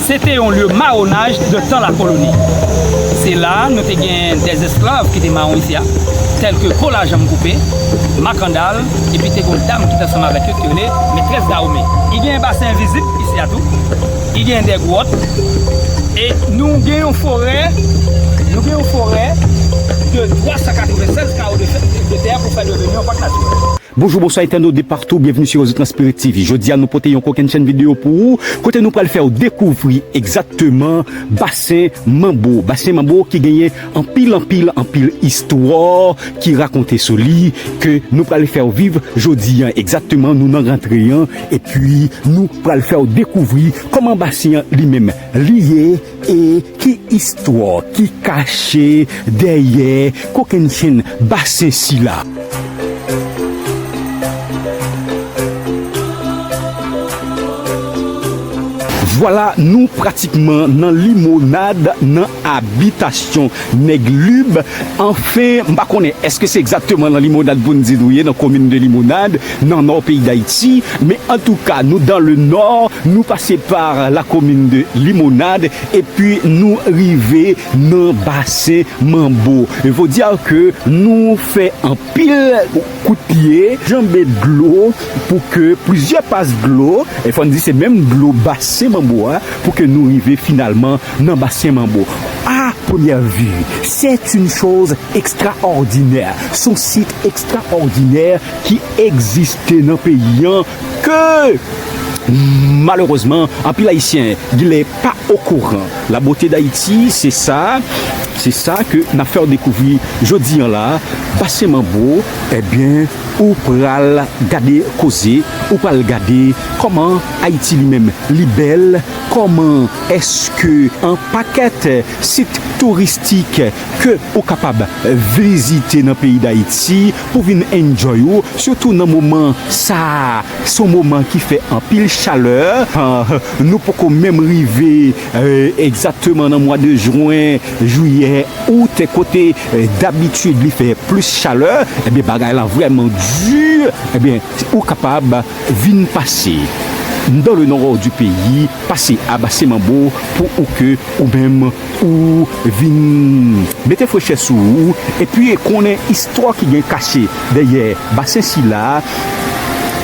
Se te yon lye mawonaj de tan lakoloni. Se la a nou te gen dè esklav ki te mawon isi a, tèlke Kola Janm Koupe, Makandal, epi te gen yon dam ki te ansanm avèk yo ki te rele Metrès Dawome. I gen basen envizib isi a tou. I gen dè gwòt. E nou gen yon forè, nou gen yon forè de 396 kawo de tè pou fè deveni yon pak natirèl. Bonjou bonswa entènot de partou byenvni su rezo transpirit TV jodia nou pote yon kokenn chèn video pou ou kote nou pral fèw dekouvri egzakteman basen manbo basen manbo ki genyen anpil anpil anpil istwa ki rakonte sou li ke nou pral fèw viv jodia egzakteman nou nan rantre an epi nou pral fèw dekouvri kòman basen an li menm li ye. E ki istwa ki kache dèyè kokennchenn basen sila? Vwala nou pratikman nan limonad nan abitasyon Nèg Lib, anfen m pa konnen èske se egzakteman nan limonad pou n di nou ye nan komin de limonad, nan nò peyi dayiti men antouka nou dan le nò nou pase par la komin de limonad epi nou rive nan basen manbo vo dire ke nou fè anpil kout pye janbe dlo pou ke plizyè pas dlo fò n di se menm dlo basen manbo a pou ke nou rive finalman nan basen manbo a premyè vu sèt yn choz ekstraòdinè son sit ekstraòdinè. ki egziste nan peyi an ke malerezman anpil ayisyen gnlè pa okouran la bote dayiti se sa se sa ke nap fèw dekouvri jodi an la pase man bro ebyen ou pral gade koze ou pral gade kòman ayiti li menm li bèl kòman eske an pakèt sit touristik ke ou kapab vizite nan peyi dayiti. Pou vin enjoy ou sitou nan moman sa son moman ki fè anpil chalè nou poko menm rive egzateman nan mwa de jwen, jiyè, out kote dabitid li fè plis chalè ebyen bagay la vrèman di ebyen ou kapab vin pase nan le nò du peyi pase a Base Manbo pou ou ke ou menm. ou vin mete frechè sou ou epi konnen istwa ki gen kache dèyè basen sila a,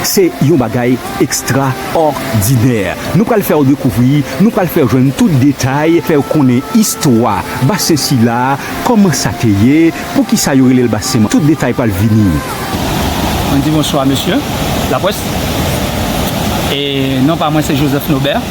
se yon bagay ekstraòdinè. Nou pral fè w dekouvri, nou pral fè w jwenn tout detay, fè w konnen istwa basen sila a, kòman sa te ye, poukisa yo rele l basen man, tout detay pral vini. Mwen di bonswa mesye lapwès e non pa mwen se Joseph Nobert.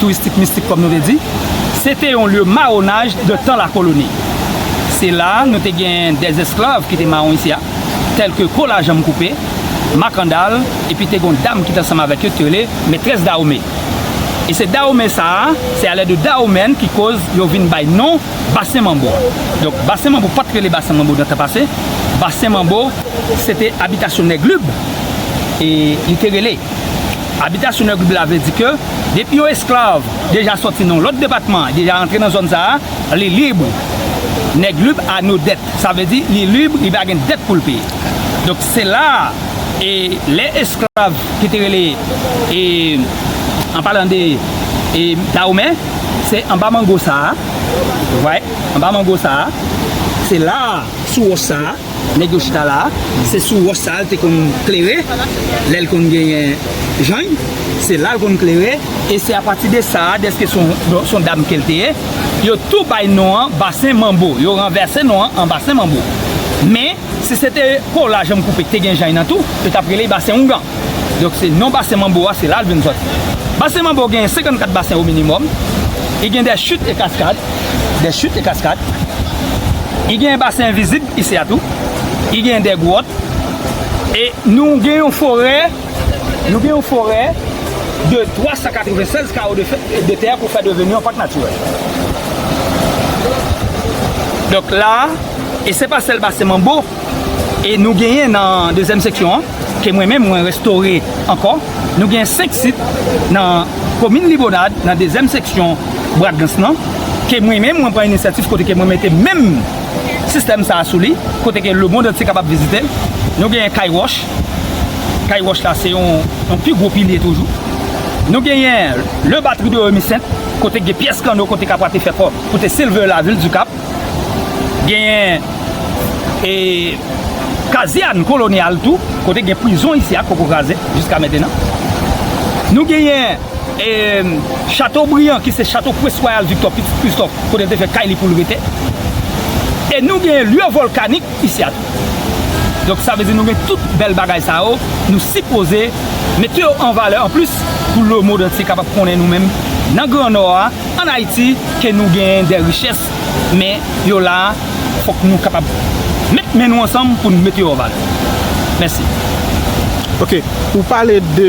touristik mistik kòm nou te di, se te yon lye mawonaj de tan lakoloni. Se la a nou te genyen de esklav ki te mawon isi a, tèlke kola janm koupe, makandal, epi te gen yon dam ki te ansanm avèk yo ki te rele Metrès Dawome. E se Dawome sa a, se alè de Dawomèn ki koz yo vin bay non Basen Manbo a. Donk Basen Manbo pa t rele Basen Manbo nan tan pase, Basen Manbo se te abitasyon Nèg Lib e li te rele. Abitasyon Nèg Lib la vle di ke. Depi yon esklav deja sòti nan yon lòt depatman, deja antre nan zòn sa a, li lib, nèg lib a no dèt. Sa vle di li lib, li pa gen dèt pou l peye. Donk se la a, e lè esklav ki te rele, e an palan de e Dawomè, se anba mango sa a, ou vwa, anba mango sa a, se la a, sou wòch sa a. Nèg yo chita la a, se sou wòch sa a l te konn klere lè l konn genyen jany. Se la l konn klere e se apati de sa a, dèske se yon dam ke l te ye, yo tou bay non an Basen Manbo. Yo ranvèse non an an Basen Manbo. Men, si se te kola janm koupe k te gen jany nan tou, yo t ap rele l Basen Oungan. Donk se non basen Manbo a se la l vin sòti. Basen Manbo genyen 54 basen o minimòm. I gen dè chit e kaskad, dè chit e kaskad. I genyen basen envizib isi a tou. I genyen dè gwòt. E nou gen yon forè, nou gen yon forè de 396 kawo de fè, de tè pou fè deveni yon pak natirèl. Donk la a, e se pa sèl basen Manbo. E nou genyen nan dezyèm seksyon an, ke mwen menm mwen restore ankò, nou genyen 5 sit nan komin Libonad, nan dezyèm seksyon Bradgans lan, ke mwen menm mwen pran inisyatif kote ke mwen mete menm sistèm sa a sou li, kote ke lemond antye kapab vizite l. Nou genyen Kay Wòch, Kay Wòch la se yon pi gwo pilye toujou. Nou genyen Le Batterie de Remissainte, kote gen pyès kanno kote kapwa te fè kò pou te silver la vil Dikap. Genyen e kazèn kolonyal tou, kote gen prizon isi a poko kraze jiska mentenan. Nou genyen e chato briyan ki se chato prince royal Victor pitit Christophe kote li te fè kay li pou l rete. E nou genyen lye volkanik isi a tou. Donk sa vle di nou gen tout bèl bagay sa yo, nou sipoze mete yo an valè an plis pou lemond antye kapab konnen nou menm nan gran nò a. An Ayiti ke nou genyen dè richès men yo la fòk nou kapab met men nou ansanm pou nou mete yo an valè. Mèsi. Ok, ou pale de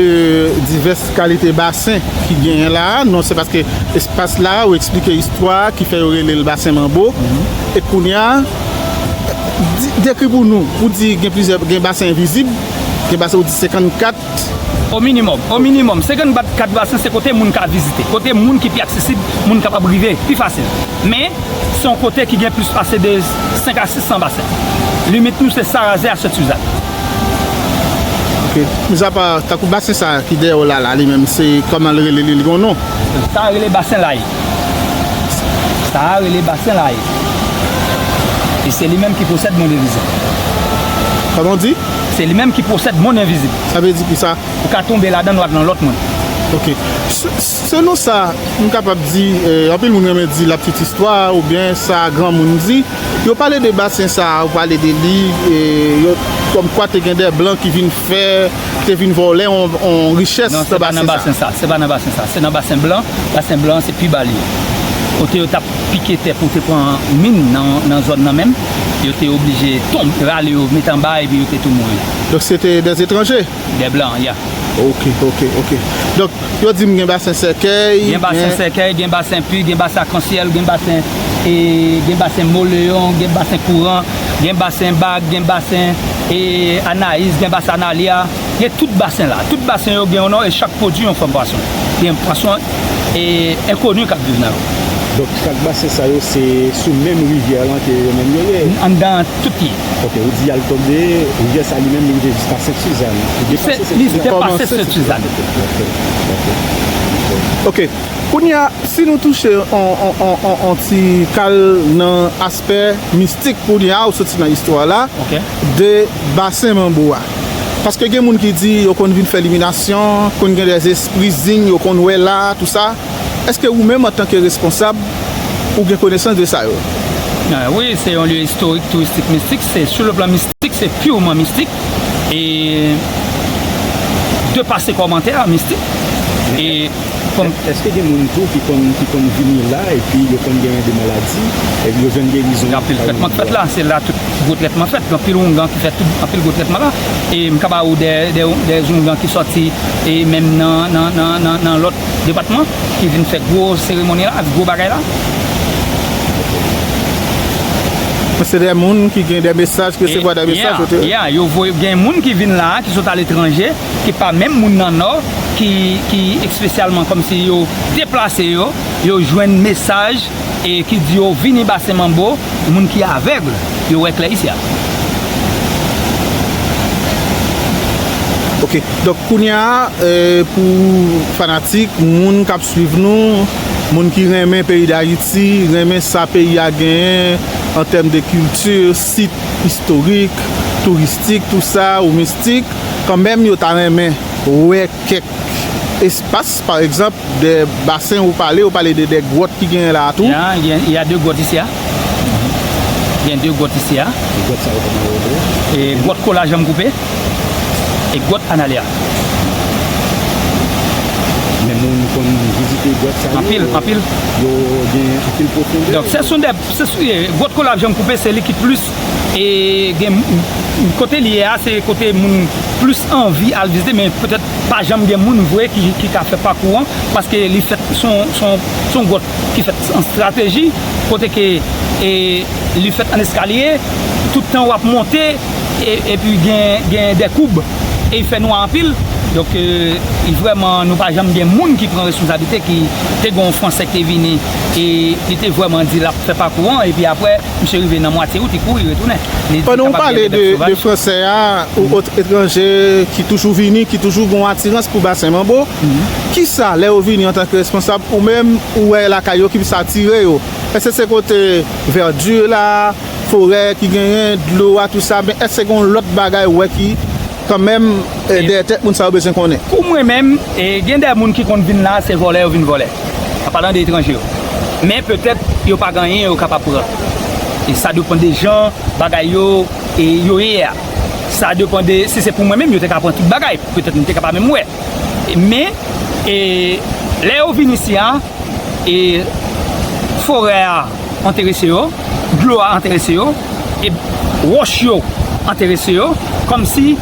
divès kalite basen ki genyen la a, non se paske espas la ou eksplike istwa a ki fè yo rele l basen manbo e kounye a dekri pou nou, ou di gen plizyè gen basen envizib, gen basen ou di 54. O minimòm, o minimòm, 54 kat vaksen se kote moun ka vizite, kote moun ki pi aksesib, moun kapab rive pi fasil. Men, se yon kote ki gen plis pase de 5 a 600 basen. Limit nou se Sarazè a Sèt Suzann. Ok. Mizapa, tankou basen sa a ki dèyè w la la, li menm se kòman l rele li? Li gen yon non? Sa a rele Basen Laye. Sa a rele Basen Laye. E se li menm ki posèd Monderizè. Kòman w di? Se li menm ki posèd monn envizib. Sa vle di kisa? Ou ka tonbe ladan l wap nan lòt monn. Ok. Selon sa m kapab di, anpil moun renmen di la petite histoire oubyen sa granmoun di, yo pale de basen sa a, yo pale de li, kòmkwa te gen de blan ki vin fè, ki te vin vòlè yon richès nan basen sa a. Non, se pa nan basen sa a. Se pa nan basen sa a. Se nan basen blan. Basen blan an se pi ba li. Kote yo t ap pike tè pou te pran min nan zòn nan menm. yo te oblije tonm, rale yo met anba epi yo te tou mouri. Donk se te des etranje? Des blancs, ya. Ok, ok, ok. Donk, yo di m gen basen sèkèy, gen. Gen basen sèkèy, gen basen pu, gen basen akansyèl, gen basen e, gen basen moleyon, gen basen kouran, gen basen bag, gen basen e, anayis, gen basen analya. gen tout basen la. Tout basen yo gen yon non e chak pwodui yon fòm pwason. Gen pwason enkoni k ap viv nan yo. Donk chak basen sa yo se sou menm rivyè lan ke yo menm yo ye? Anndan tout li. Ok, ou di y al tonbe, rivyè sa li menm li rive jiska Sent Suzann? Li depase Sent Suzann? Li depase Sent Suzann. Ok, ok. Ok, kounye a, si nou touche yon ti kal nan. fè mistik pou li a ou soti nan istwa la de basen manbo a paske gen moun ki di yo konn vin fè liminasyon konn gen de espri zing yo konn wè la tou sa eske ou menm antanke responsab ou gen konesans de sa yo. Wi se yon lye istorik touristik mistik se sou le plan mistik. Mistik se purement mistik e depase kòmantè mistik e fòm. Eske gen moun tou ki konn ki konn vini la epi yo konn genyen de maladi epi yo jwenn gerizon. Gen anpil trètman k fèt la se la tout gwo trètman fèt gen anpil oungan ki fè tout anpil gwo trètman la e m ka ba ou de de de zoungan ki sòti e menm nan nan nan nan nan lòt depatman ki vin fè gwo seremoni la ak gwo bagay la. Se de moun ki gen de mesaj, ki resevwa de mesaj kote yo? Ya, yo voye, gen moun ki vin la a, ki sot aletranje, ki pa menm moun nan Nò, ki espesyalman kòmsi yo deplase yo, yo jwenn mesaj e ki di yo vini Basen Manbo, moun ki avèg, yo wè klè isi a. Ok, donk kounye a, pou fanatik, moun k ap swiv nou. Moun ki renmen peyi Dayiti, renmen sa peyi a genyen an tèm de kilti, sit istorik, touristik, tou sa, ou mistik, kan menm yo ta renmen wè kèk espas, pa egzanp, de basen ou pale, ou pale de de gwòt ki genyen la a tou. Gen, y a de gwòt isi a. Gen de gwòt isi a. Gwòt sa yo kòman yo rele yo? Gwòt Kola Janm Koupe. E gwòt Analea? Men moun konn vizite gwòt sa yo. Anpil, anpil. Yo gen anpil pwofondè. Donk, se sou dè, se sou ye, gwòt Kolab Janm Koupe se li ki plis e gen kote li ye a se kote moun plis anvi al vizite men petèt pa janm gen moun vre ki ka fè pakou an paske li fèt son, son, son gwòt. ki fèt an strateji, kote ke li fèt an eskalye, tout tan wap monte, epi gen de koub, e fè nwa anpil, donk vrèman nou pa janm gen moun ki pran responsabilite, ki te gen yon fransè ki te vini, e li te vrèman di lap fè pakou an, epi aprè misye rive nan mwatye wout li kouri retounen. Pandan ou pale de fransè a, ou ot etranje ki toujou vini, ki toujou gen yon atirans pou basen manbo, Kisa, lè yo vini antanke responsab, ou menm ou wè lakay yo ki plis atire yo? Èske se kote vèdi la, forè ki genyen, dlo a, tout sa? Byen, èske gen yon lòt bagay ou wè ki, kanmenm, dèyè tèt moun sa yo bezwen konnen? Pou mwen menm, gen de moun ki konn vin la, se vòlè yo vin vòlè, an palan de etranje yo. Men, petèt, yo pa gen anyen yo kapab pran. Sa depan de jan bagay yo ye a. Sa depan de, si se pou mwen menm, yo te ka pran tout bagay. Petèt, m te ka pa menm wè. Men, lè yo vin isi a, forè a enterese yo, dlo a enterese yo, wòch yo enterese yo, kòmsi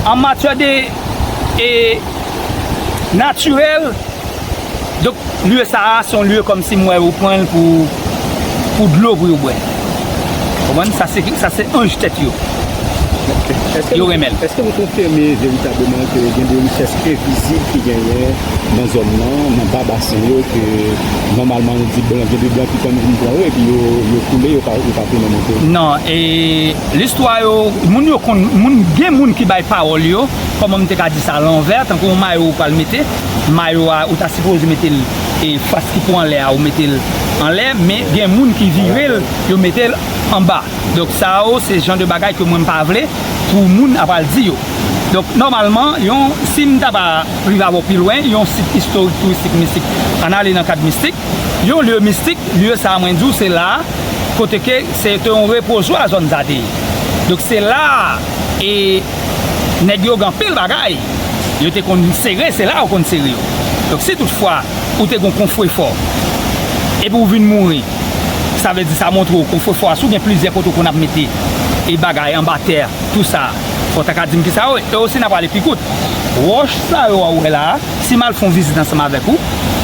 an matyè de natirèl. Donk lye sa a son lye kòm si m wè yo pran l pou dlo pou yo bwè. Ou konprann? Sa se sa se anj tèt yo. Yo renmen l. Eske nou konfime veritableman ke gen de richès envizib ki genyen nan zòn nan, nan ba basen yo ke nòmalman nou di blan gen de blan ki konn vin pran yo epi yo koule yo pa tounen monte? Non. E listwa yo, moun yo konn, moun gen moun ki bay pawòl yo, kòman m te ka di sa, lanvè, tankou yon mayo ou pral mete. mayo a ou ta sipoze metel e fas ki pou anlè a ou metel anlè men gen moun ki virel yo metel anba donk sa yo se jan de bagay ke mwen m pa vle pou moun ap al di yo donk nòmalman yon si m ta pa rive avè w pi lwen yon sit istorik touristik mistik ann ale nan kad mistik yon lye mistik lye sa mwen di w se la kote ke se te yon repozwa zòn sa te ye donk se la e. nèg yo gen anpil bagay yo te konn sere se la yo konn sere yo donk si tout fwa ou te gen yon konfwefò epi ou vin mouri sa vle di sa montre w konfwefò a si w gen plizyè kote ou konn ap mete e bagay anba tè tou sa fò w ta ka di m kisa yo ye e osi n a prale pi kout wòch sa yo a ou wè la a si m al fè yon vizit ansanm avèk ou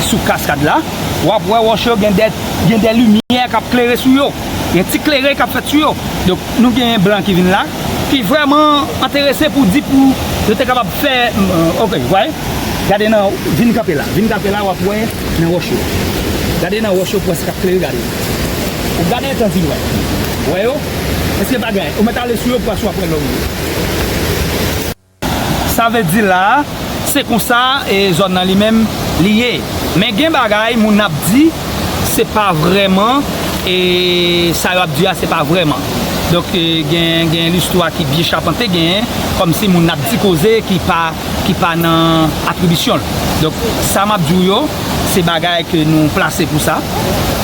sou kaskad la w ap wè wòch yo gen de gen de limyè k ap klere sou yo. Yon ti klere k ap fèt sou yo. Donk, nou gen blan ki vin la, ki vrèman enterese pou di pou yo te kapab fè, ok, w vwaye? Gade nan, vin kanpe la, vin kanpe la w ap wè nan wòch yo. Gade nan wòch yo pwès k ap klere, gade. Ou gade etan di wè. Wè yo? Èske pa gen? Ou mèt ale sou yo pwès w ap wè lò ou ye. Sa vle di la a, se konsa e zòn nan li menm li ye. Men gen bagay moun ap di se pa vrèman e sa yo ap di a se pa vrèman. Donk gen gen listwa ki byen chapante gen kòm si moun ap di koze ki pa ki pa nan atribisyon l. Donk sa map di w yo se bagay ke nou plase pou sa.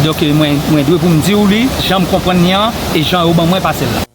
Donk mwen mwen dwe pou m di w li jan m konprann li an e jan yo ban mwen pase l la.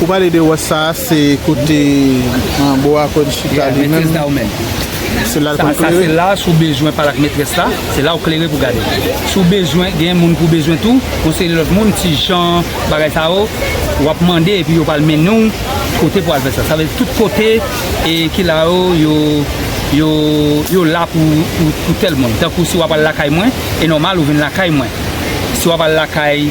Ou pale de wòch sa a, se kote Bo a konn chita li menm? Sa a se la si w bezwen pale ak metrès la, se la ou klere pou w gade. Si w bezwen, gen moun pou w bezwen tou, yon seri lòt moun, ti jan, bagay sa yo, w ap mande epi yo pral mennen w kote pou w al fè sa. Sa vle di tout kote ki la yo, yo la pou tèl moun. Tankou si w ap al lakay mwen, e nòmal ou vin lakay mwen. Si w ap al lakay.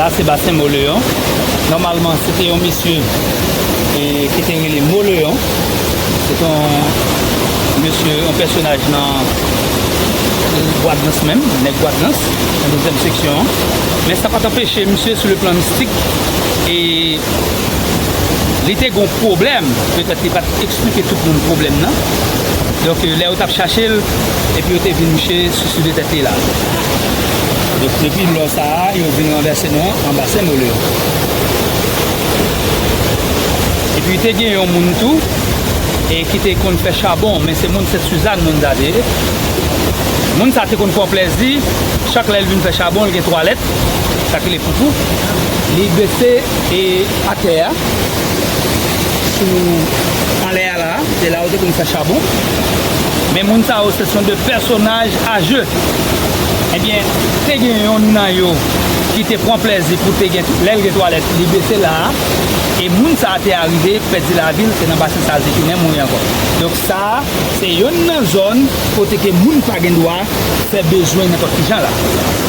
La se basen Moleon. Normalman, se te yon misye ki te yon Moleon. Se te yon misye, yon personaj nan... Gwadnans menm, nèg Gwadnans, nan dezyèm seksyon an. Men sa pa t anpeche misye sou le plan mistik e li te gon pwoblèm, petèt li pa t esplike tout moun pwoblèm nan. Donk lè yo t ap chache l, epi yo te vin misye suiside tèt li la. Donk depi lò sa a, yo vin ranvèse non an anba Senmolo. Epi te gen yon moun tou. e ki te konn fè chabon men se moun Sent Suzanne moun sa te ye moun sa te konn pran plèzi chak lèl vin fè chabon li gen twalèt sak rele foufou li bese e atè a sou anlè a la se la yo te konn fè chabon men moun sa yo se son de pèsonaj a je ebyen te gen yonn nan yo ki te pran plèzi pou te gen lèl gen twalèt li bese la. E moun sa a te arive pèdi lavi l se nan basen sa l te tounen mouri ankò. Donk sa a se yonn nan zòn kote ke moun pa gen dwa fè bezwen nenpòt ki jan la.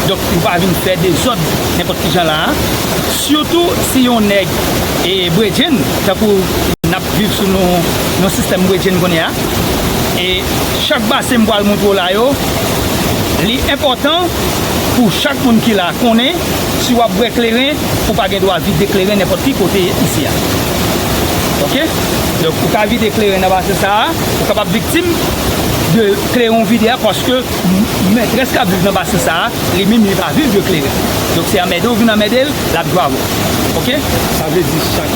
Donk ou pa vin fè dezòd nenpòt ki jan la a. Sitou si yon nèg e bredjenn tankou n ap viv sou yon sistèm bredjenn kounye a. E chak basen m pral montre w la yo, li enpòtan pou chak moun ki la konnen si w ap bwè kleren ou pa gen dwa vide kleren nenpòt ki kote isi a ok donk ou ka vide kleren nan basen sa a ou kapab viktim de kleren ou vide a paske mètrès kap viv nan basen sa a li menm li pa viv de kleren donk se anmède ou vin anmède l lap jwe avè w ok sa vle di chak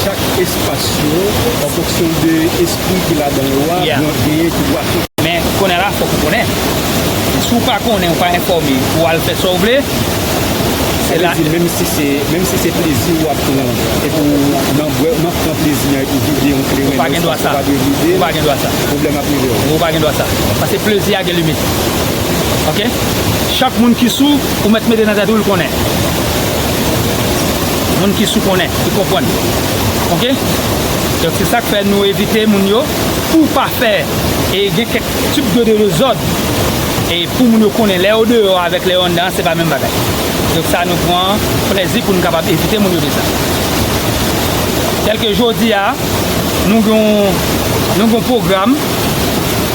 chak espas yo an fonksyon de espri ki ladan yo a ya genyen ki dwa fè men kounye a la fòk ou konnen si w pa konnen ou pa enfòme ou al fè sa w vle. Sa vle di menm si se menm si se plezi ou ap pran epi w nan bwè nan pran plezi an epi w vide yon kleren ou pa gen dwa sa ou pa dwe vide ou pa gen dwa sa pwoblèm ap rive w ou pa gen dwa sa paske plezi a gen limit ok chak moun ki sou ou mèt mete nan tèt ou l konnen moun ki sou konnen ki konprann ok donk se sak fè nou evite moun yo pou w pa fè e gen kèk tip de dezòd. E pou moun yo konnen lè yo deyò avèk lè yo anndan an se pa menm bagay. Donk sa nou pran plèzi pou nou kapab evite moun yo de sa. Tèlke jodi a, nou gen yon, nou gen yon pwogram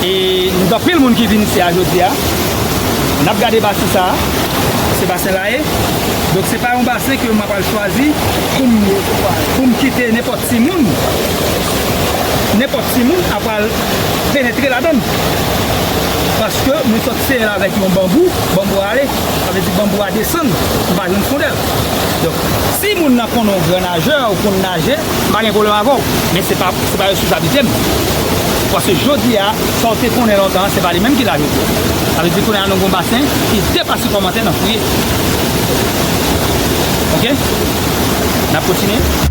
e nou gen anpil moun ki vin isi a jodi a. N ap gade basen sa a. Se basen Laye. Donk se pa yon basen ke mwen pral chwazi pou m, pou m kite nenpòt timoun, nenpòt timoun ap pral penetre ladann. Paske mwen sot seye l avèk yon banbou, banbou a ale, sa vle di banbou a desann, m pa jwenn fondè l. Donk, si moun nan konnen w gran najè, ou konn naje, m pa gen pwoblèm avè w. Men se pa responsabilite m. Paske jodi a, sa w te konnen lontan an, se pa li menm ki la jodi a. Sa vle di kounye a nou gen yon basen ki depase kòmantè n ap fouye. Ok? N ap kontinye?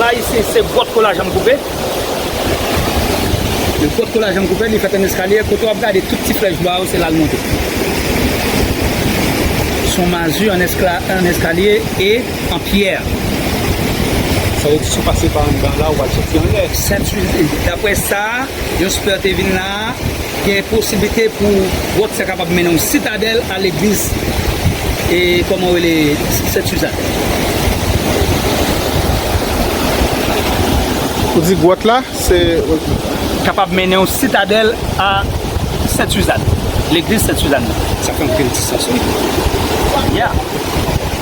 La isi se gwòt kou lajan m koupe. Yon gwòt kou lajan m koupe li fèt an eskalye. Kote w ap gade tout ti flèch bwa yo se la l monte. Son mazi an eskalye e. An pyè. Sa vle di si w pase pa andan la ou pral soti anlè. Dapre sa yon spè te vin la a, gen posiblite pou gwòt sa kapab mennen yon sitadèl a legliz e kòman yo rele Sent Suzanne. Ou di gwòt la se. Kapab mennen yon sitadèl a Sent Suzanne. Legliz Sent Suzanne nan. Sa fè anpil sans wi. Ya.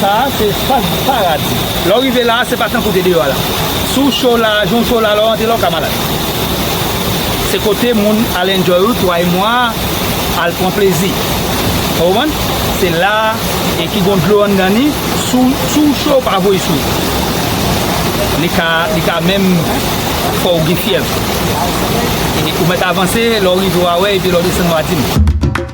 Sa a se espas di paradi. Lè w rive la a, se pa tankou w te deyò a la. Si w cho la a, jan w cho la a, lè w rantre la a, w ka malad. Se kote moun al enjoy ou twa e mwa a, al pran plezi. Ou konprann? Se la a e ki gon dlo anndan ni, si w cho, pa voye sou ou. Li ka, li ka menm fè w gen fyèv. Ou mèt avanse, lè w rive w a wè epi lè w desann w a di m.